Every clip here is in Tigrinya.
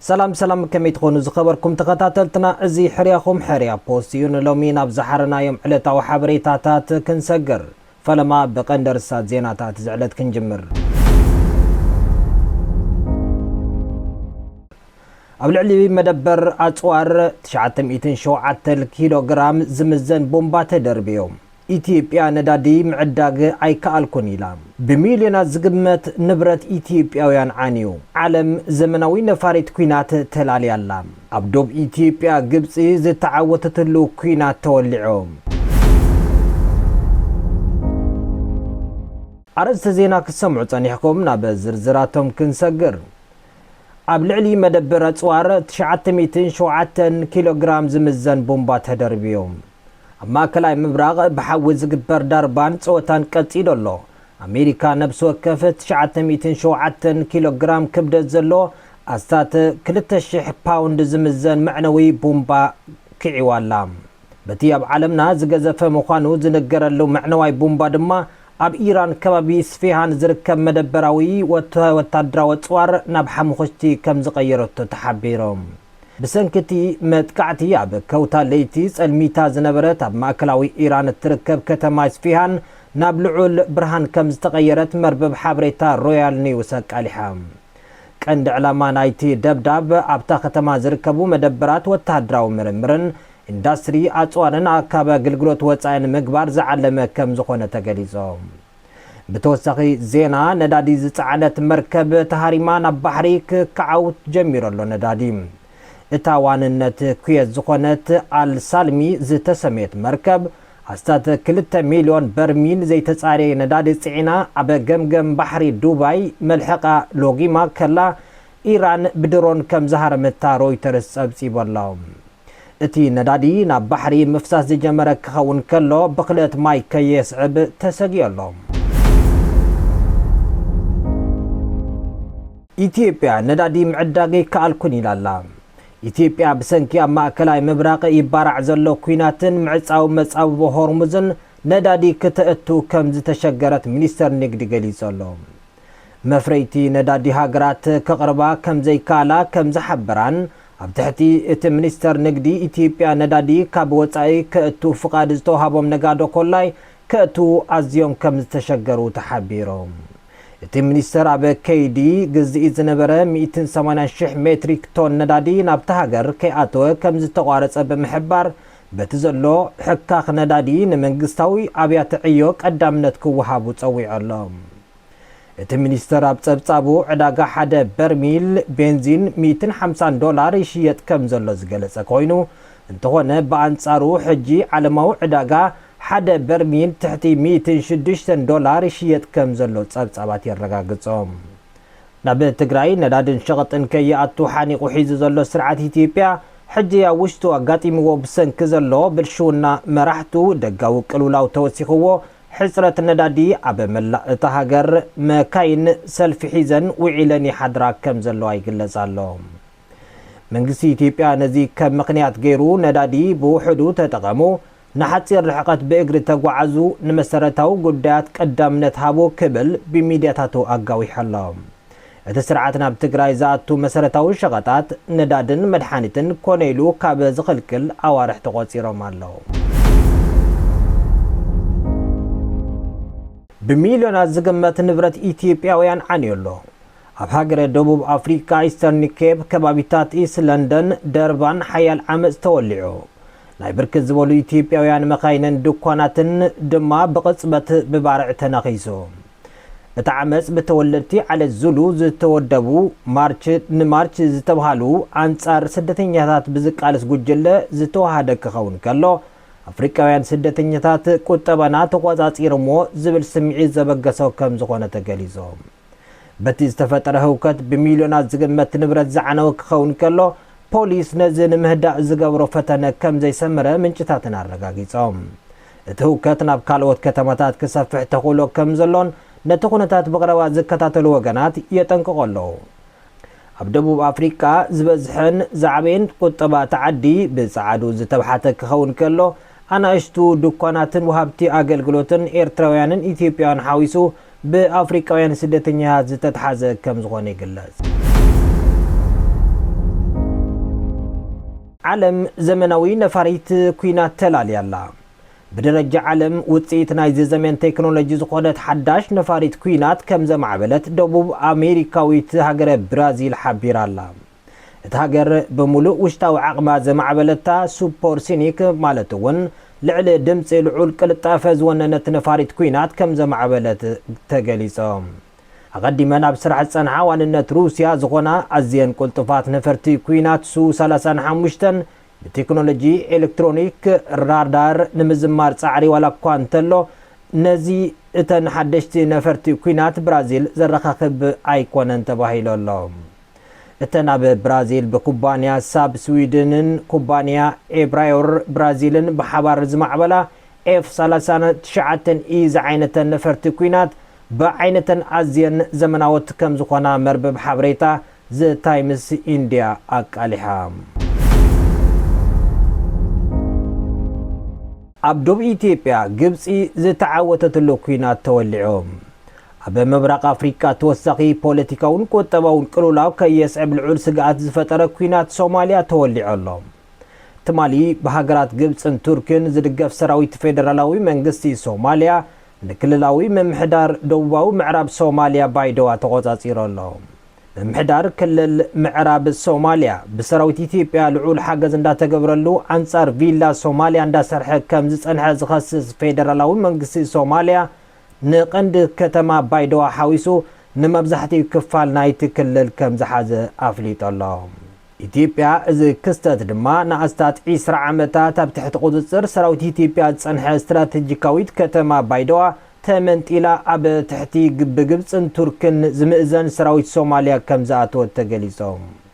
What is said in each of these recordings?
ሰላም ሰላም ከመይ ትኾኑ ዝኸበርኩም ተኸታተልትና እዚ ሕርያኹም ሕርያ ፖስት እዩ ንሎሚ ናብ ዝሓረናዮም ዕለታዊ ሓበሬታታት ክንሰግር ፈለማ ብቐንዲ ርሳት ዜናታት ዝዕለት ክንጅምር ኣብ ልዕሊ መደበር ኣጽዋር ትሽዓተ ሚእትን ሸውዓተን ኪሎ ግራም ዝምዘን ቦምባ ተደርብዮ፣ ኢትዮጵያ ነዳዲ ምዕዳግ ኣይከኣልኩን ኢላ። ብሚልዮናት ዝግመት ንብረት ኢትዮጵያውያን ዓንዩ። ዓለም ዘመናዊ ነፋሪት ኲናት ተላልያ ኣላ። ኣብ ዶብ ኢትዮጵያ ግብጺ ዝተዓወተትሉ ኲናት ተወሊዑ። ኣርእስተ ዜና ክትሰምዑ ጸኒሕኩም፣ ናብ ዝርዝራቶም ክንሰግር። ኣብ ልዕሊ መደብር ኣጽዋር ትሽዓተ ሚእትን ሸውዓተን ኪሎ ግራም ዝምዘን ቡምባ ተደርብዩ። ኣብ ማእከላይ ምብራቕ ብሓዊ ዝግበር ዳርባን ጸወታን ቀጺሉ ኣሎ። ኣሜሪካ ነብሲ ወከፍ ትሽዓተ ሚእትን ሸውዓተን ኪሎ ግራም ክብደት ዘለዎ ኣስታት ክልተ ሽሕ ፓውንድ ዝምዘን መዕነዊ ቡምባ ኪዒዋ ኣላ። በቲ ኣብ ዓለምና ዝገዘፈ ምዃኑ ዝንገረሉ መዕነዋይ ቡምባ ድማ ኣብ ኢራን ከባቢ ስፌሃን ዝርከብ መደበራዊ ወተሃወታደራዊ ኣጽዋር ናብ ሓሙኹሽቲ ከም ዝቐየረቶ ተሓቢሩ። ብሰንኪ እቲ መጥቃዕቲ ኣብ ከውታ ለይቲ ጸልሚታ ዝነበረት ኣብ ማእከላዊ ኢራን እትርከብ ከተማ ኢስፌሃን ናብ ልዑል ብርሃን ከም ዝተቐየረት መርበብ ሓበሬታ ሮያል ኒውስ ኣቃሊሓ። ቀንዲ ዕላማ ናይቲ ደብዳብ ኣብታ ከተማ ዝርከቡ መደበራት ወተሃደራዊ ምርምርን ኢንዳስትሪ ኣፅዋርን ኣካቢ ኣገልግሎት ወፃኢ ንምግባር ዝዓለመ ከምዝኾነ ተገሊፁ። ብተወሳኺ ዜና ነዳዲ ዝፀዓነት መርከብ ተሃሪማ ናብ ባሕሪ ክካዓው ጀሚሩ ኣሎ ነዳዲ እታ ዋንነት ኩዌት ዝኾነት ኣል ሳልሚ ዝተሰምየት መርከብ ኣስታት ክልተ ሚልዮን በርሚል ዘይተፃረየ ነዳዲ ፅዒና ኣብ ገምገም ባሕሪ ዱባይ መልሕቓ ሎጊማ ከላ ኢራን ብድሮን ከም ዝሃረመታ ሮይተርስ ጸብጺቡ ኣሎ። እቲ ነዳዲ ናብ ባሕሪ ምፍሳስ ዝጀመረ ክኸውን ከሎ ብኽለት ማይ ከየስዕብ ተሰጊኡ ኣሎ። ኢትዮጵያ ነዳዲ ምዕዳግ ኣይከኣልኩን ኢላ ኣላ። ኢትዮጵያ ብሰንኪ ኣብ ማእከላይ ምብራቕ ይባራዕ ዘሎ ኲናትን ምዕጻው መጻብቦ ሆርሙዝን ነዳዲ ክተእቱ ከም ዝተሸገረት ሚኒስተር ንግዲ ገሊጹ ኣሎ። መፍረይቲ ነዳዲ ሃገራት ከቕርባ ከምዘይከኣላ ከምዝሓበራን ኣብ ትሕቲ እቲ ሚኒስተር ንግዲ ኢትዮጵያ ነዳዲ ካብ ወፃኢ ከእቱ ፍቓድ ዝተውሃቦም ነጋዶ ኮላይ ከእትዉ ኣዝዮም ከምዝተሸገሩ ተሓቢሩ። እቲ ሚኒስተር ኣብ ከይዲ ግዝኢት ዝነበረ ሚእትን ሰማንያን ሺሕ ሜትሪክ ቶን ነዳዲ ናብታ ሃገር ከይኣተወ ከምዝተቋረፀ ብምሕባር በቲ ዘሎ ሕካኽ ነዳዲ ንመንግስታዊ ኣብያተ ዕዮ ቀዳምነት ክወሃቡ ጸዊዑ ኣሎ። እቲ ሚኒስተር ኣብ ጸብጻቡ ዕዳጋ ሓደ በርሚል ቤንዚን ሚእትን ሓምሳን ዶላር ይሽየጥ ከም ዘሎ ዝገለጸ ኮይኑ እንተኾነ ብኣንጻሩ ሕጂ ዓለማዊ ዕዳጋ ሓደ በርሚል ትሕቲ ሚእትን ሽዱሽተን ዶላር ይሽየጥ ከም ዘሎ ጸብጻባት የረጋግጾ። ናብ ትግራይ ነዳድን ሸቐጥን ከይኣቱ ሓኒቑ ሒዙ ዘሎ ስርዓት ኢትዮጵያ፣ ሕጂ ኣብ ውሽጡ ኣጋጢምዎ ብሰንኪ ዘሎ ብልሽውና መራሕቱ ደጋዊ ቅልውላው ተወሲኽዎ፣ ሕጽረት ነዳዲ ኣብ መላእ እታ ሃገር መካይን ሰልፊ ሒዘን ውዒለን ይሓድራ ከም ዘለዋ ይግለጽ ኣሎ። መንግስቲ ኢትዮጵያ ነዚ ከም ምኽንያት ገይሩ ነዳዲ ብውሑዱ ተጠቐሙ፣ ንሓጺር ርሕቐት ብእግሪ ተጓዓዙ፣ ንመሰረታዊ ጉዳያት ቀዳምነት ሃቡ ክብል ብሚድያታቱ ኣጋዊሑ ኣሎ። እቲ ስርዓት ናብ ትግራይ ዝኣቱ መሰረታዊ ሸቐጣት፣ ነዳድን መድሓኒትን ኮነ ኢሉ ካብ ዝኽልክል ኣዋርሕ ተቖጺሮም ኣለዉ። ብሚልዮናት ዝግመት ንብረት ኢትዮጵያውያን ዓንዩ ኣሎ። ኣብ ሃገረ ደቡብ ኣፍሪቃ ኢስተርን ኬፕ ከባቢታት ኢስት ለንደን ደርባን ሓያል ዓመጽ ተወሊዑ። ናይ ብርክት ዝበሉ ኢትዮጵያውያን መካይንን ድኳናትን ድማ ብቕጽበት ብባርዕ ተነኺሱ። እቲ ዓመጽ ብተወለድቲ ዓለት ዙሉ ዝተወደቡ ማርች ንማርች ዝተብሃሉ ኣንጻር ስደተኛታት ብዝቃለስ ጉጅለ ዝተወሃደ ክኸውን ከሎ ኣፍሪቃውያን ስደተኛታት ቁጠባና ተቖጻጺሮምዎ ዝብል ስምዒት ዘበገሶ ከምዝኾነ ተገሊጹ። በቲ ዝተፈጠረ ህውከት ብሚልዮናት ዝግመት ንብረት ዝዓነወ ክኸውን ከሎ፣ ፖሊስ ነዚ ንምህዳእ ዝገበሮ ፈተነ ከም ዘይሰመረ ምንጭታትና ኣረጋጊጾም። እቲ ህውከት ናብ ካልኦት ከተማታት ክሰፍሕ ተኽእሎ ከም ዘሎን ነቲ ኩነታት ብቕረባ ዝከታተሉ ወገናት የጠንቅቑ ኣለዉ። ኣብ ደቡብ ኣፍሪቃ ዝበዝሐን ዝዓበየን ቁጠባ እታ ዓዲ ብጸዓዱ ዝተብሓተ ክኸውን ከሎ፣ ኣናእሽቱ ድኳናትን ወሃብቲ ኣገልግሎትን ኤርትራውያንን ኢትዮጵያውያን ሓዊሱ ብኣፍሪቃውያን ስደተኛታት ዝተትሓዘ ከም ዝኾነ ይግለጽ። ዓለም ዘመናዊ ነፋሪት ኲናት ተላልያ ኣላ። ብደረጃ ዓለም ውጽኢት ናይዚ ዘመን ቴክኖሎጂ ዝኾነት ሓዳሽ ነፋሪት ኲናት ከም ዘማዕበለት ደቡብ ኣሜሪካዊት ሃገረ ብራዚል ሓቢራ ኣላ። እታ ሃገር ብምሉእ ውሽጣዊ ዓቕማ ዘማዕበለታ ሱፐርሶኒክ ማለት እውን ልዕሊ ድምጺ ልዑል ቅልጣፈ ዝወነነት ነፋሪት ኲናት ከም ዘማዕበለት ተገሊጸ። ኣቐዲመን ኣብ ስራሕ ዝጸንሓ ዋንነት ሩስያ ዝኾና ኣዝየን ቅልጡፋት ነፈርቲ ኲናት ሱ ሰላሳ ሓሙሽተ ብቴክኖሎጂ ኤሌክትሮኒክ ራዳር ንምዝማር ጻዕሪ ዋላ እኳ እንተሎ ነዚ እተን ሓደሽቲ ነፈርቲ ኲናት ብራዚል ዘረኻኽብ ኣይኮነን ተባሂሉ ኣሎ። እተን ኣብ ብራዚል ብኩባንያ ሳብ ስዊድንን ኩባንያ ኤብራዮር ብራዚልን ብሓባር ዝማዕበላ ኤፍ ሰላሳን ትሽዓተን ኢ ዝዓይነተን ነፈርቲ ኲናት ብዓይነተን ኣዝየን ዘመናዎት ከም ዝኾና መርበብ ሓበሬታ ዘ ታይምስ ኢንድያ ኣቃሊሓ። ኣብ ዶብ ኢትዮጵያ ግብጺ ዝተዓወተትሉ ኲናት ተወሊዑ። ኣብ ምብራቕ ኣፍሪቃ ተወሳኺ ፖለቲካውን ቁጠባውን ቅልውላው ከየስዕብ ልዑል ስግኣት ዝፈጠረ ኲናት ሶማልያ ተወሊዑ ኣሎ። ትማሊ ብሃገራት ግብጽን ቱርክን ዝድገፍ ሰራዊት ፌደራላዊ መንግስቲ ሶማልያ ንክልላዊ ምምሕዳር ደቡባዊ ምዕራብ ሶማልያ ባይደዋ ተቖጻጺሩ ኣሎ። ምምሕዳር ክልል ምዕራብ ሶማልያ ብሰራዊት ኢትዮጵያ ልዑል ሓገዝ እንዳተገብረሉ ኣንጻር ቪላ ሶማልያ እንዳሰርሐ ከምዝጸንሐ ዝኸስስ ፌደራላዊ መንግስቲ ሶማልያ ንቀንዲ ከተማ ባይዶዋ ሓዊሱ ንመብዛሕቲኡ ክፋል ናይቲ ክልል ከምዝሓዘ ኣፍሊጡ'ሎ። ኢትዮጵያ እዚ ክስተት ድማ ንኣስታት ዕስራ ዓመታት ኣብ ትሕቲ ቁጽጽር ሰራዊት ኢትዮጵያ ዝጸንሐ ስትራተጂካዊት ከተማ ባይዶዋ ተመንጢላ ኣብ ትሕቲ ብግብጽን ቱርክን ዝምእዘን ሰራዊት ሶማልያ ከምዝኣተወት ተገሊጹ።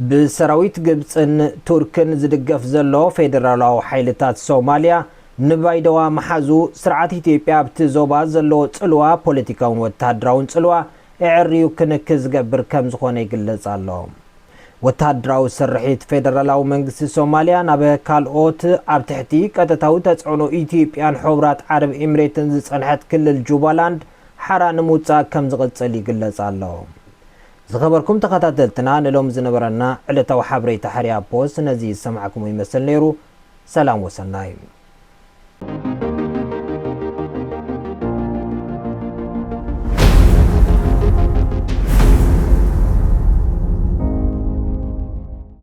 ብሰራዊት ግብጽን ቱርክን ዝድገፍ ዘሎ ፌደራላዊ ሓይልታት ሶማልያ ንባይደዋ ምሓዙ፣ ስርዓት ኢትዮጵያ ኣብቲ ዞባ ዘለዎ ጽልዋ፣ ፖለቲካውን ወተሃደራውን ጽልዋ፣ ኣዐርዩ ክንኪ ዝገብር ከምዝኾነ ይግለጽ ኣሎ። ወተሃደራዊ ስርሒት ፌደራላዊ መንግስቲ ሶማልያ ናብ ካልኦት ኣብ ትሕቲ ቀጥታዊ ተጽዕኖ ኢትዮጵያን ሑብራት ዓረብ ኤምሬትን ዝጸንሐት ክልል ጁባላንድ ሓራ ንምውጻእ ከምዝቕጽል ይግለጽ ኣሎ። ዝኸበርኩም ተኸታተልትና ንሎሚ ዝነበረና ዕለታዊ ሓበሬታ ሕርያ ፖስት ነዚ ዝሰማዕክሞ ይመስል ነይሩ ሰላም ወሰናይ።